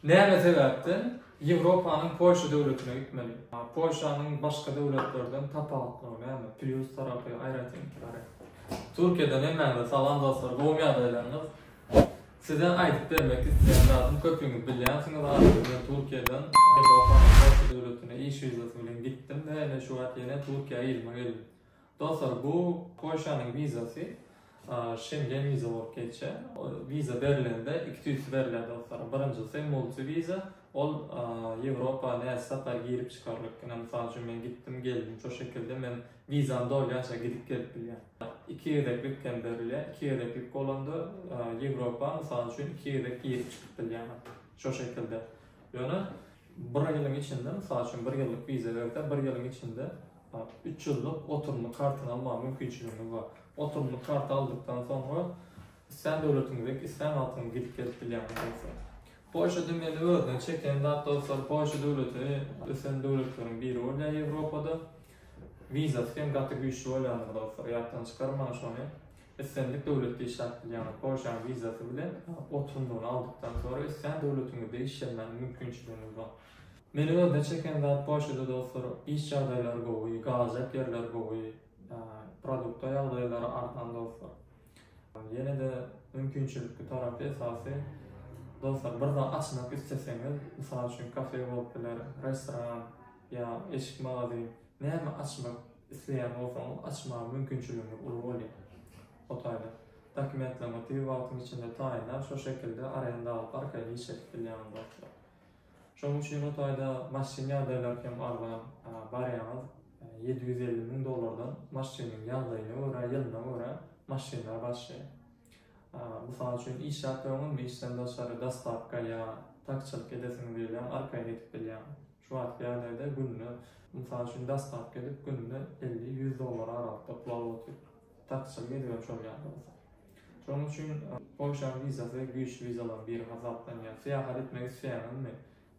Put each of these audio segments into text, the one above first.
Näme sebäpden Ýewropanyň Polşa döwletine gitmeli? Polşanyň başga döwletlerden tapawutlygy näme? Plýus tarapy, aýratynlyklary? Türkiýeden hemmäňize salam dostlar, gowumy ýagdaýlaryňyz? Size aýdyp bermek isleýän zadym köpüňiz bilýänsiňiz arzuw bilen Türkiýeden Ýewropanyň Polşa döwletine iş wizasy bilen gitdim we ine şu wagt ýene Türkiýä yzyma geldim. Dostlar bu Polşanyň wizasy Şengen wiza bolup geçýär. Wiza berilende iki tüýsli berilýär dostlar. Birinjisi multi wiza ol Ýewropa näçe sapar girip çykarlyk. Ine mysal üçin men gitdim geldim şo şekilde men wizam dolýança gidip gelip bilýän. Iki gezeklik hem berilýär. Iki gezeklik bolanda Ýewropa mysal üçin iki gezek girip çykyp bilýän şo şekilde. Ýöne bir ýylyň içinde mysal üçin bir ýyllyk wiza berse bir ýylyň içinde Üç ýyllyk oturymly kartyny almaga mümkinçiligimiz bar. Oturymly karty aldykdan soňra islän döwletiňize dek islän wagtyňyz gidip gelip bilýäňiz dostlar. Polşada meni özüne çeken zat dostlar Polşa döwleti ösen döwletleriň biri bolýar Ýewropada. Wizasy hem gaty güýçli bolýandyr dostlar ýatdan çykarmaň şony. Islendik döwletde işläp bilýäňiz Polşanyň wizasy bilen oturymlygyny aldykdan soňra islän döwletiňizde işlemäge mümkinçiligiňiz bar. Meni özüne çeken zat poçtady dostlar, iş ýagdaýlary gowy, galajak ýerler gowy, produkta ýagdaýlary arzan dostlar. Ýene-de mümkinçilikli tarapy esasy dostlar bir zat açmak isleseňiz, mysal üçin kafe bolup biler, restoran ýa eşik magazin, näme açmak isleýän bolsaňyz açmaga mümkinçiligiňiz uly bolýar. O taýdan dokumentleriňizi tiz wagtyň içinde taýynlap şo şekilde arenda alyp arkaýyn iş edip bilýäňiz dostlar. Şonuň üçin o taýda maşyn ýagdaýlary hem arzan, barýaňyz ýedi ýüz elli müň dollardan maşynyň ýagdaýyna görä, ýylyna görä maşynlar başlaýar. Mysal üçin işläp öňem işden daşary dostawka ýa takçylyk edesiňiz gelýär, arkaýyn edip bilýäň. Şu wagtky ýagdaýda günde, mysal üçin dostawka edip günde elli, ýüz dollara aralykda pul alyp otyr. Takçylyk edibem şol ýagdaý bolsa. Şonuň üçin Polşanyň wizasy güýçli wizalaryň biri hasaplanýar. Syýahat etmek isleýäňizmi?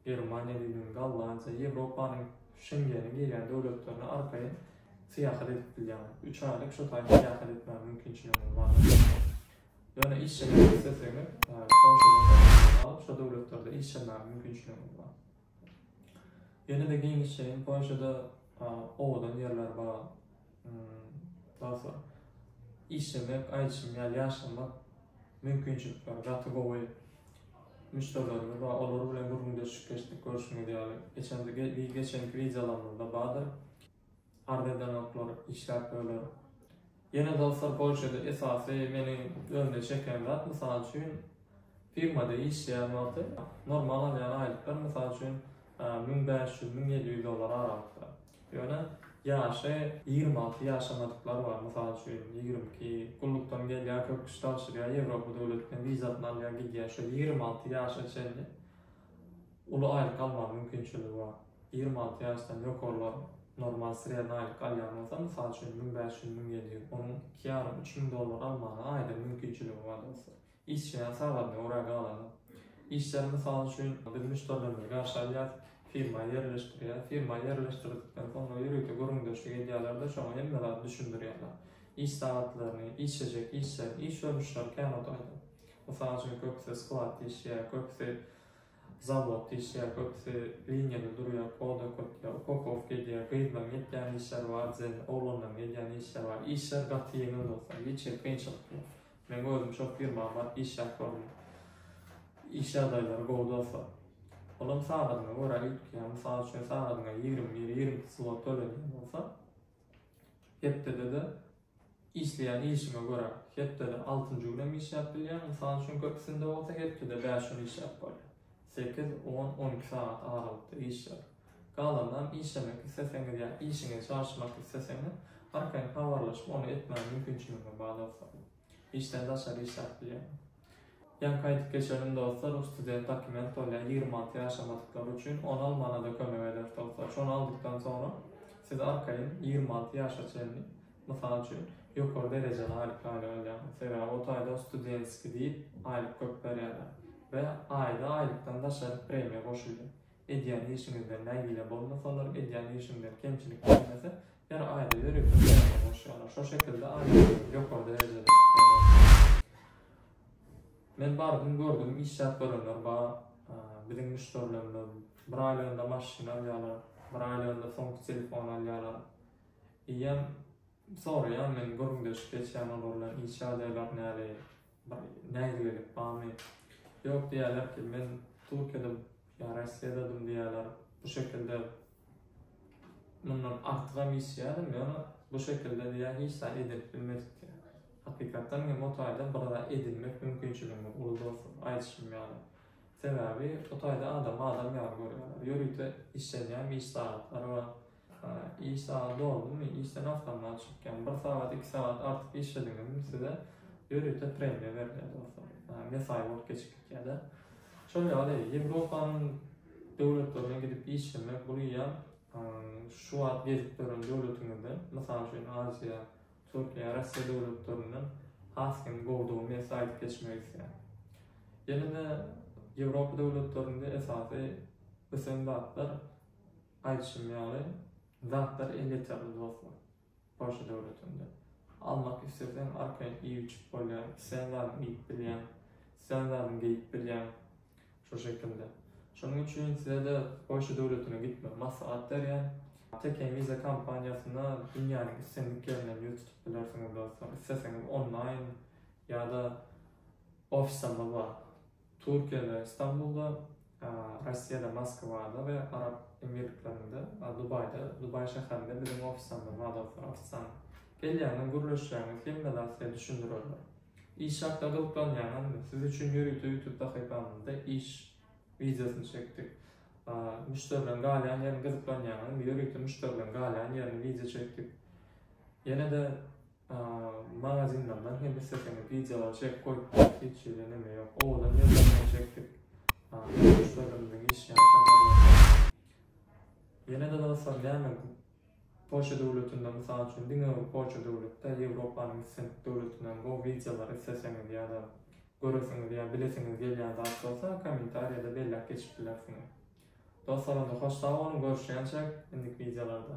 Germaniýa dilini, Gollandiýa, Ýewropanyň Şengene girýän döwletlerine arkaýyn syýahat edip bilýäňiz. Üç aýlyk şo taýda syýahat etmäge mümkinçiligiňiz bar. Ýöne işjeňlik isleseňiz, Polşadan şo döwletlerde işjeňmäge mümkinçiligiňiz bar. Ýene-de giňişjeň Polşada owadan ýerler bar. Dostlar, işlemek, aýdyşym ýaly ýaşamak mümkinçilikleri gaty gowy. Müşderilerimiz bar, olar bilen gürrüňdeşlik geçdik, görşüňiz ýaly. Geçenki wideolarymyzda bardyr. Arz edenoklar işläp böler. Ýene dostlar Polşada esasy meni özüne çeken zat mysal üçin firmada işleýän wagty normal alýan aýlyklar mysal üçin müň bäş ýüz müň ýedi ýüz dollar aralykda. Ýöne ýaşy ýigrimi alty ýaşamadyklar bar mysal üçin ýigrimi iki gullukdan gelýär köp kişi tabşyrýar Ýewropa döwletine wizasyny alýar gidýär şo ýigrimi alty ýaşa çenli Uly aýlyk almaga mümkinçiligi bar. Ýigrimi alty ýaşdan ýokarlar normal sredna aýlyk alýan bolsa, mysal üçin, müň bäş ýüz, müň ýedi ýüz, onuň iki ýarym, üç müň dollar almaga aýdyň mümkinçiligi bar dostlar. Işjeň sagadyna görä galany. Işleri mysal üçin, biz müşderilerimizi garşy alýas, firma ýerleşdirýäs. Firma ýerleşdirdikden soňra ýörite gürrüňdeşlik edýäler-de, şoňa hemme zady düşündirýäler. Iş sagatlaryny, işlejek işleri, iş görnüşleri kän otagda. Mysal üçin, köpüsi sklad dişýär, köpüsi zawod dişýär, köpüsi liniýada durýar, kod okatýar, upakowka edýär, gyzlaryň etýän işleri bar, zehin oglanlaryň edýän işleri bar. Işler gaty ýeňil dostlar, hiç hili kynçylyk ýok. Meň özüm şol firmada baryp işläp gördüm. Iş ýagdaýlary gowy dostlar. Olam sagadyňa görä üýtgeýär. Mysal üçin, sagadyňa ýigrimi bir, ýigrimi iki zlot tölenýän bolsa, hepdede-de Işleýän işiňe görä, hepdede altynjy günem işläp bilýäň, mysal üçin, köpüsinde bolsa hepdede bäş gün işläp bolýar. Sekiz, on, on iki sagat aralykda işläp, galanynam işlemek isleseňiz ýa işiňizi çalyşmak isleseňiz, arkaýyn habarlaşyp, ony etmäge mümkinçiligiňiz bar dostlar. Işden daşary işläp bilýäň. Ýaňky aýdyp geçenim dostlar bu student dokument bolýar ýigrimi alty ýaşamadyklary üçin on almana-da kömek eder dostlar şony aldykdan soňra siz arkaýyn ýigrimi alty ýaşa çenli mysal üçin ýokary derejeli aýlyk aýlan alýarsyňyz sebäbi o taýda studentskiý diýip aýlyk köp berýärler we aýda aýlykdan daşary premiýa goşulýar Edýän işiňizden nägile bolmasalar, edýän işiňden kemçilik gelmese, her aýda ýörite töläge goşýarlar. Şo şekilde aýlygyňyzy ýokary derejede çykýarlar. Men bardym, gördüm, işläp görenler bar. Biziň müşderilerimiz bir aýlygynda maşyn alýarlar, bir aýlygynda soňky telefony alýarlar. Eýýäm soraýan men gürrüňdeşlik geçýän olar bilen, iş ýagdaýlary näli, Bir nägilelik barmy? Ýok diýýärler ki, men Türkiýedem ýa Rossiýadadym diýýärler. Bu şekilde mundan artygam işleýärdim, ýöne bu şekilde diýýär hiç zat edinip bilmedik diýýär. Hakykatdan hem o taýda bir zat edinmek mümkinçiligimiz uly dostlar, aýdyşym ýaly. Sebäbi o taýda adamy adam ýaly görýärler. Ýörite işlenýän iş sagatlary bar. Iş sagat doldumy, işden asgyndan çykýan, bir sagat, iki sagat artyk işlediňizmi size ýörite premiýa berilýär dostlar. Mesaý wagt geçip gitýär-de. Şol ýaly Ýewropanyň döwletlerine gidip işlemek bul ýa şu wagt gezip gören döwletiňizde, mysal üçin Aziýa, Türkiýe, Russiýa döwletlerinde has hem gowudygy men size aýdyp geçmek isleýän. Ýene-de Ýewropa döwletlerinde esasy ösen zatlar Aýdyşym ýaly, zatlary elýeterli dostlar, Polşa döwletinde. Almak isleseň, arkaýyn iýip-içip bolýar, islän zadyňy iýip bilýäň, islän zadyňy geýip bilýäň, şo şekilde. Şonuň üçin size-de Polşa döwletine gitmegi maslahat berýän. Teken Visa kompaniýasyna dünýäniň islendik ýerinden ýüz tutup bilersiňiz dostlar, isleseňiz onlaýn ýa-da ofislerimiz bar. Türkiýede Istanbulda, Rossiýada Moskwada we Arap Emirliklerinde Dubaýda, Dubaý şäherinde biziň ofisimizde bazarda artsan gelýäňiz, gürleşýäňiz hemme zat size düşündirerler. Iş hakda gyzyklanýaňyzmy? Siz üçin ýörite YouTube sahypamyzda iş wideosyny çekdik. Müşderileriň galýan ýerini gyzyklanýaňyzmy? Ýörite müşderileriň galýan ýerini wideo çekdik. Ýene-de Magazinlerden hem isleseňiz wideolar çekip goýup bolýar, hiç hili neme ýok. Owadan ýerlerden çekdik. Müşderilerimiziň işleýän şäherlerinden. Ýene-de dostlar, näme Polşa döwletinde, mysal üçin, diňe bir Polşa döwletde, Ýewropanyň islendik döwletinden gowy wideolar isleseňiz ýa-da göresiňiz ýa bilesiňiz gelýän zat bolsa, kommentariýada belläp geçip bilersiňiz. Dostlar, onda hoş sag boluň, görüşýänçäk indiki wideolarda.